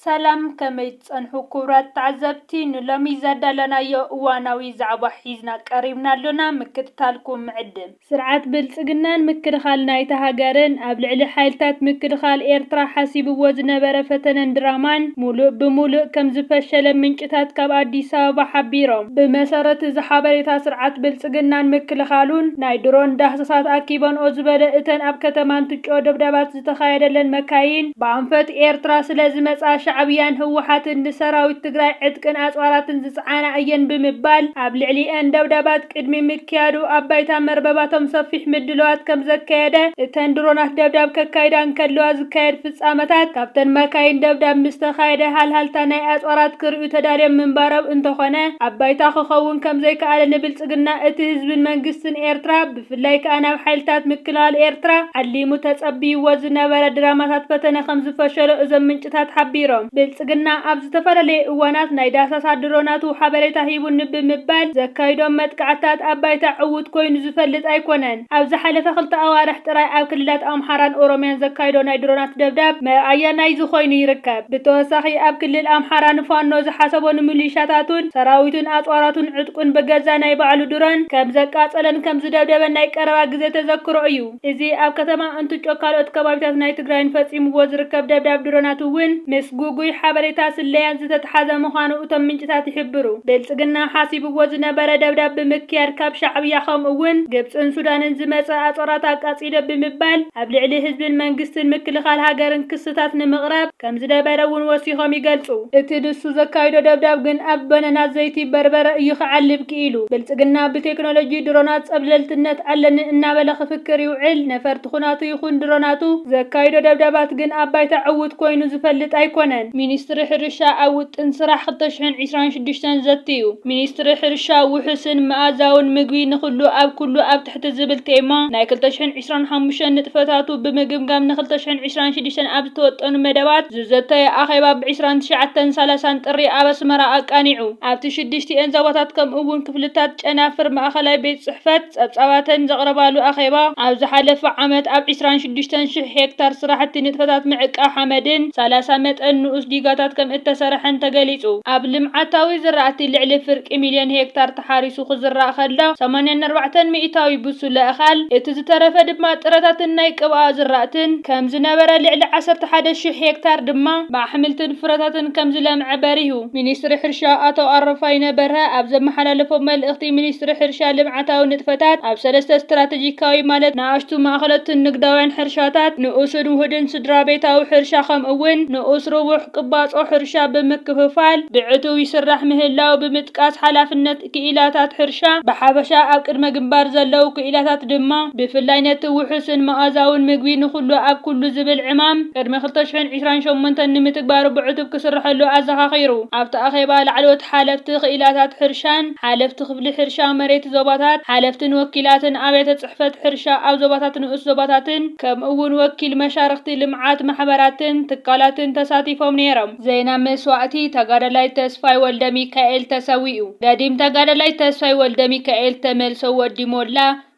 ሰላም ከመይ ትጸንሑ ኩቡራት ተዓዘብቲ ንሎሚ ዘዳለናዮ እዋናዊ ዛዕባ ሒዝና ቀሪብና ኣሎና ምክትታልኩም ንዕድም። ስርዓት ብልጽግናን ምክልኻል ናይታ ሃገርን ኣብ ልዕሊ ሓይልታት ምክልኻል ኤርትራ ሓሲብዎ ዝነበረ ፈተነን ድራማን ሙሉእ ብሙሉእ ከምዝፈሸለ ምንጭታት ካብ ኣዲስ ኣበባ ሓቢሮም። ብመሰረት እዚ ሓበሬታ ስርዓት ብልጽግናን ምክልኻሉን ናይ ድሮን ዳህሳሳት ኣኪበንኦ ዝበለ እተን ኣብ ከተማ እንትጮ ደብዳባት ዝተኻየደለን መካይን ብኣንፈት ኤርትራ ስለ ዝመጻ ሻዕብያን ህወሓትን ንሰራዊት ትግራይ ዕጥቅን ኣጽዋራትን ዝጸዓና እየን ብምባል ኣብ ልዕሊኤን ደብዳባት ቅድሚ ምክያዱ ኣብ ባይታ መርበባቶም ሰፊሕ ምድልዋት ከም ዘካየደ እተን ድሮናት ደብዳብ ከካይዳ እንከለዋ ዝካየድ ፍጻመታት ካብተን መካይን ደብዳብ ምስ ተኻየደ ሃልሃልታ ናይ ኣጽዋራት ክርእዩ ተዳልዮም ምንባሮም እንተኾነ ኣብ ባይታ ክኸውን ከም ዘይከኣለ ንብልጽግና እቲ ህዝብን መንግስትን ኤርትራ ብፍላይ ከኣ ናብ ሓይልታት ምክልኻል ኤርትራ ዓሊሙ ተጸብይዎ ዝነበረ ድራማታት ፈተነ ከምዝፈሸሎ እዞም ምንጭታት ሓቢሮም። ብልጽግና ኣብ ዝተፈላለየ እዋናት ናይ ዳሳሳ ድሮናቱ ሓበሬታ ሂቡኒ ብምባል ዘካይዶም መጥቃዕትታት ኣብ ባይታ ዕዉት ኮይኑ ዝፈልጥ ኣይኮነን። ኣብ ዝሓለፈ ክልተ ኣዋርሕ ጥራይ ኣብ ክልላት ኣምሓራን ኦሮምያን ዘካይዶ ናይ ድሮናት ደብዳብ መርኣያ ናይዚ ኮይኑ ይርከብ። ብተወሳኺ ኣብ ክልል ኣምሓራ ንፋኖ ዝሓሰቦ ንሚሊሻታቱን ሰራዊቱን ኣጽዋራቱን ዕጥቁን ብገዛእ ናይ ባዕሉ ድሮን ከምዘቃጸለን ከምዝደብደበን ናይ ቀረባ ግዜ ተዘክሮ እዩ። እዚ ኣብ ከተማ እንትጮ ካልኦት ከባቢታት ናይ ትግራይን ፈጺምዎ ዝርከብ ደብዳብ ድሮናት እውን ምስ ጉጉይ ሓበሬታ ስለያን ዝተትሓዘ ምዃኑ እቶም ምንጭታት ይሕብሩ። ብልጽግና ሓሲብዎ ዝነበረ ደብዳብ ብምክያድ ካብ ሻዕብያ ከምኡ እውን ግብጽን ሱዳንን ዝመጸ ኣጽዋራት ኣቃጺሉ ኢደ ብምባል ኣብ ልዕሊ ህዝብን መንግስትን ምክልኻል ሃገርን ክስታት ንምቕራብ ከም ዝደበረ እውን ወሲኾም ይገልጹ። እቲ ንሱ ዘካይዶ ደብዳብ ግን ኣብ በነና ዘይቲ በርበረ እዩ ክዓልብ ክኢሉ። ብልጽግና ብቴክኖሎጂ ድሮናት ጸብለልትነት ኣለኒ እናበለ ክፍክር ይውዕል፣ ነፈርቲ ኹናቱ ይኹን ድሮናቱ ዘካይዶ ደብዳባት ግን ኣብ ባይታ ዕዉት ኮይኑ ዝፈልጥ ኣይኮነን። ሚኒስትሪ ሕርሻ ኣብ ውጥን ስራሕ ክልተ ሽሕን ዕስራን ሽዱሽተን ዘትዩ። ሚኒስትሪ ሕርሻ ውሑስን መኣዛውን ምግቢ ንኹሉ ኣብ ኩሉ ኣብ እቲ ዝብል ቴማ ናይ ክልተ ሽሕን ዕስራን ሓሙሽተን ንጥፈታቱ ብምግምጋም ንክልተ ሽሕን ዕስራን ሽዱሽተን ኣብ ዝተወጠኑ መደባት ዝዘተየ ኣኼባ ብ ዕስራን ትሽዓተን ሳላሳን ጥሪ ኣብ ኣስመራ ኣቃኒዑ። ኣብቲ ሽዱሽቲኤን ዞባታት ከምኡ ውን ክፍልታት ጨናፍር ማእኸላይ ቤት ፅሕፈት ፀብፃባተን ዘቕረባሉ ኣኼባ ኣብ ዝሓለፈ ዓመት ኣብ ዕስራን ሽዱሽተን ሽሕ ሄክታር ስራሕቲ ንጥፈታት ምዕቃብ ሓመድን ሳላሳ መጠን ንኡስ ዲጋታት ከምእተሰርሐን ተገሊፁ። ኣብ ልምዓታዊ ዝራእቲ ልዕሊ ፍርቂ ሚልዮን ሄክታር ተሓሪሱ ክዝራእ ከሎ ሰማንያን ኣርባዕተን ሚኢታዊ ብሱለ እኻል፣ እቲ ዝተረፈ ድማ ጥረታትን ናይ ቅብኣ ዝራእትን ከም ዝነበረ ልዕሊ ዓሰርተ ሓደ ሽሕ ሄክታር ድማ ብኣሕምልትን ፍረታትን ከም ዝለምዐ በሪሁ። ሚኒስትሪ ሕርሻ ኣቶ ኣረፋይነ በርሀ ኣብ ዘመሓላለፎ መልእኽቲ ሚኒስትሪ ሕርሻ ልምዓታዊ ንጥፈታት ኣብ ሰለስተ ስትራተጂካዊ ማለት ንኣሽቱ፣ ማእኸለትን ንግዳውያን ሕርሻታት፣ ንኡስን ውሁድን ስድራቤታዊ ሕርሻ ከምኡ እውን ንኡስ ርቡሕ ቅባፆ ሕርሻ ብምክፍፋል ብዕቱብ ይስራሕ ምህላው ብምጥቃስ፣ ምድቃስ ሓላፍነት ክኢላታት ሕርሻ ብሓፈሻ ኣብ ቅድመ ግንባር ዘለዉ ክኢላታት ድማ ብፍላይ ነቲ ውሑስን መኣዛውን ምግቢ ንኹሉ ኣብ ኩሉ ዝብል ዕማም ቅድሚ ክልተ ሽሕን ዕስራን ሸሞንተን ንምትግባሩ ብዕቱብ ክስርሐሉ ኣዘኻኺሩ። ኣብቲ ኣኼባ ላዕለዎት ሓለፍቲ ክኢላታት ሕርሻን ሓለፍቲ ክፍሊ ሕርሻ መሬት ዞባታት ሓለፍትን ወኪላትን ኣብያተ ጽሕፈት ሕርሻ ኣብ ዞባታት ንኡስ ዞባታትን ከምኡ'ውን ወኪል መሻርኽቲ ልምዓት ማሕበራትን ትካላትን ተሳቲፎም ነይሮም። ዜና መስዋእቲ ተጋዳላይ ተስፋይ ወልደሚካኤል ተሰዊኡ! ገዲም ተጋዳላይ ተስፋይ ወልደሚካኤል፣ ተመልሶ ወዲ ሞላ፣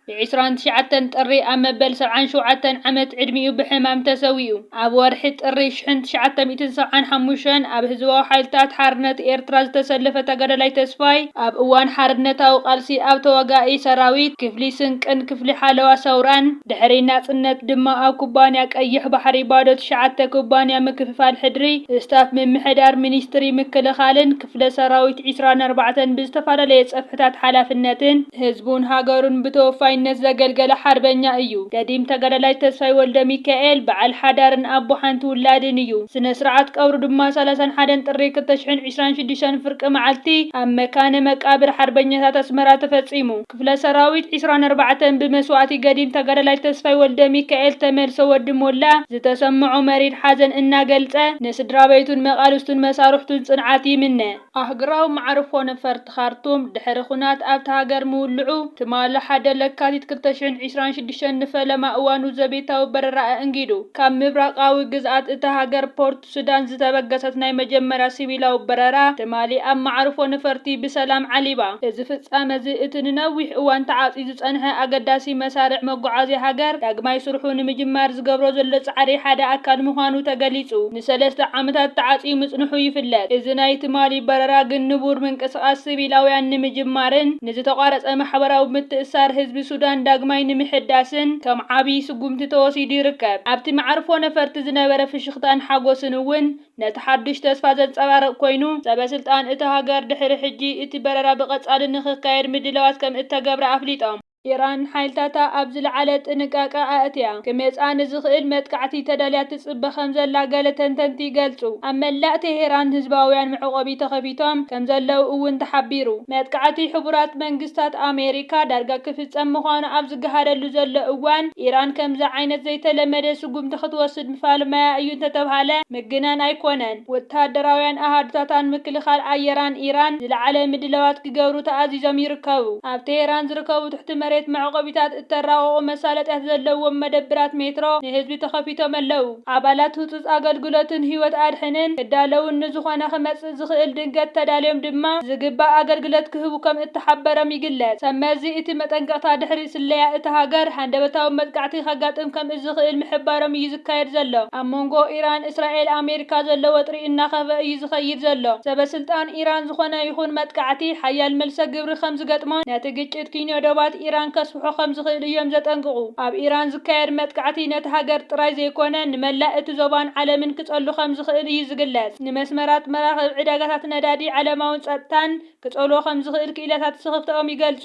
ብ ዕስራን ትሽዓተን ጥሪ ኣብ መበል ሰብዓን ሸውዓተን ዓመት ዕድሚኡ ብሕማም ተሰዊኡ። ኣብ ወርሒ ጥሪ ሽሕን ትሽዓተ ሚእትን ሰብዓን ሓሙሽተን ኣብ ህዝባዊ ሓይልታት ሓርነት ኤርትራ ዝተሰለፈ ተጋዳላይ ተስፋይ፣ ኣብ እዋን ሓርነታዊ ቃልሲ ኣብ ተዋጋኢ ሰራዊት፣ ክፍሊ ስንቅን ክፍሊ ሓለዋ ሰውራን፣ ድሕሪ ናጽነት ድማ ኣብ ኩባንያ ቀይሕ ባሕሪ ባዶ ትሽዓተ ኩባንያ ምክፍፋል ሕድሪ፣ ስታፍ ምምሕዳር ሚኒስትሪ ምክልኻልን ክፍለ ሰራዊት ዕስራን ኣርባዕተን ብዝተፈላለየ ጸፍሕታት ሓላፍነትን ህዝቡን ሃገሩን ብተወፋይነት ዘገልገለ ሓርበኛ እዩ። ገዲም ተጋዳላይ ተስፋይ ወልደሚካኤል በዓል ሓዳርን ኣቦ ሓንቲ ውላድን እዩ። ስነ ስርዓት ቀብሩ ድማ ሰላሳን ሓደን ጥሪ ክልተ ሽሕን ዕስራን ሽዱሽተን ፍርቂ መዓልቲ ኣብ መካነ መቃብር ሓርበኛታት ኣስመራ ተፈጺሙ። ክፍለ ሰራዊት ዕስራን ኣርባዕተን ብመስዋእቲ ገዲም ተጋዳላይ ተስፋይ ወልደሚካኤል፣ ተመልሶ ወዲ ሞላ፣ ዝተሰመዖ መሪር ሓዘን እናገልጸ፣ ንስድራቤቱን መቓልስቱን መሳርሕቱን ጽንዓት ይምነ። ኣህግራዊ መዓርፎ ነፈርቲ ኻርቱም፣ ድሕሪ ኹናት ኣብታ ሃገር ምውልዑ፣ ትማሊ ሓደ ለካቲት ክልተ ሽሕን ዕስራን ሽዱሽተን ንፈለማ እዋኑ ዘቤታዊ በረራ ኣእንጊዱ ካብ ምብራቓዊ ግዝኣት እታ ሃገር ፖርት ሱዳን ዝተበገሰት ናይ መጀመርያ ሲቪላዊ በረራ ትማሊ ኣብ መዓርፎ ነፈርቲ ብሰላም ዓሊባ። እዚ ፍጻመ'ዚ እቲ ንነዊሕ እዋን ተዓጽዩ ዝጸንሐ ኣገዳሲ መሳርዕ መጓዓዝያ ሃገር ዳግማይ ስርሑ ንምጅማር ዝገብሮ ዘሎ ጻዕሪ ሓደ ኣካል ምዃኑ ተገሊጹ። ንሰለስተ ዓመታት ተዓጽዩ ምጽንሑ ይፍለጥ። እዚ ናይ ትማሊ በረራ ግን ንቡር ምንቅስቓስ ሲቪላውያን ንምጅማርን ንዝተቋረጸ ማሕበራዊ ምትእስሳር ህዝቢ ሱዳን ዳግማይ ንምሕዳስን ከም ዓቢ ስጉምቲ ተወሲዱ ይርከብ። ኣብቲ መዓርፎ ነፈርቲ ዝነበረ ፍሽኽታ፣ ስክፍታን ሓጎስን እውን ነቲ ሓዱሽ ተስፋ ዘንጸባርቕ ኮይኑ፣ ሰበስልጣን እታ ሃገር ድሕሪ ሕጂ እቲ በረራ ብቐጻሊ ንኽካየድ ምድላዋት ከም እተገብረ ኣፍሊጦም። ኢራን ሓይልታታ ኣብ ዝለዓለ ጥንቃቐ ኣእትያ፣ ክመጽኣ ንዝኽእል መጥቃዕቲ ተዳልያ ትጽበ ከም ዘላ ገለ ተንተንቲ ይገልጹ። ኣብ መላእ ቴሄራን ህዝባውያን መዕቆቢ ተኸፊቶም ከም ዘለዉ እውን ተሓቢሩ። መጥቃዕቲ ሕቡራት መንግስታት ኣሜሪካ ዳርጋ ክፍጸም ምዃኑ ኣብ ዝገሃደሉ ዘሎ እዋን፣ ኢራን ከምዚ ዓይነት ዘይተለመደ ስጉምቲ ክትወስድ ምፋልማያ እዩ እንተተብሃለ ምግናን ኣይኮነን። ወተሃደራውያን ኣሃዱታታን ምክልኻል ኣየራን ኢራን ዝለዓለ ምድላዋት ክገብሩ ተኣዚዞም ይርከቡ። ኣብ ቴህራን ዝርከቡ ትሕቲ መሬት መዕቆቢታት እተራቕቑ መሳለጥያት ዘለዎም መደብራት ሜትሮ ንህዝቢ ተኸፊቶም'ለዉ። ኣባላት ህጹጽ ኣገልግሎትን ህይወት ኣድሕንን ክዳለዉን ንዝኾነ ክመጽእ ዝኽእል ድንገት ተዳልዮም ድማ ዝግባእ ኣገልግለት ክህቡ ከም እተሓበረም ይግለጽ። ሰብ መዚ እቲ መጠንቀቕታ ድሕሪ ስለያ እታ ሃገር ሃንደበታዊ መጥቃዕቲ ከጋጥም ከም እዝኽእል ምሕባሮም እዩ ዝካየድ ዘሎ። ኣብ መንጎ ኢራን፣ እስራኤል፣ ኣሜሪካ ዘሎ ወጥሪ እናኸፍኣ እዩ ዝኸይድ ዘሎ። ሰበ ስልጣን ኢራን ዝኾነ ይኹን መጥቃዕቲ ሓያል መልሰ ግብሪ ከም ዝገጥሞን ነቲ ግጭት ኪንዮ ዶባት ኢራን ከስ ክበጽሑ ከም ዝኽእሉ እዮም ዘጠንቅቑ። ኣብ ኢራን ዝካየድ መጥቃዕቲ ነታ ሃገር ጥራይ ዘይኰነ ንመላእ እቲ ዞባን ዓለምን ክጸሉ ከም ዝኽእል እዩ ዝግለጽ። ንመስመራት መራኽብ፣ ዕዳጋታት ነዳዲ፣ ዓለማዊ ጸጥታን ክጸልዎ ከም ዝኽእል ክኢላታት ስኽፍታኦም ይገልጹ።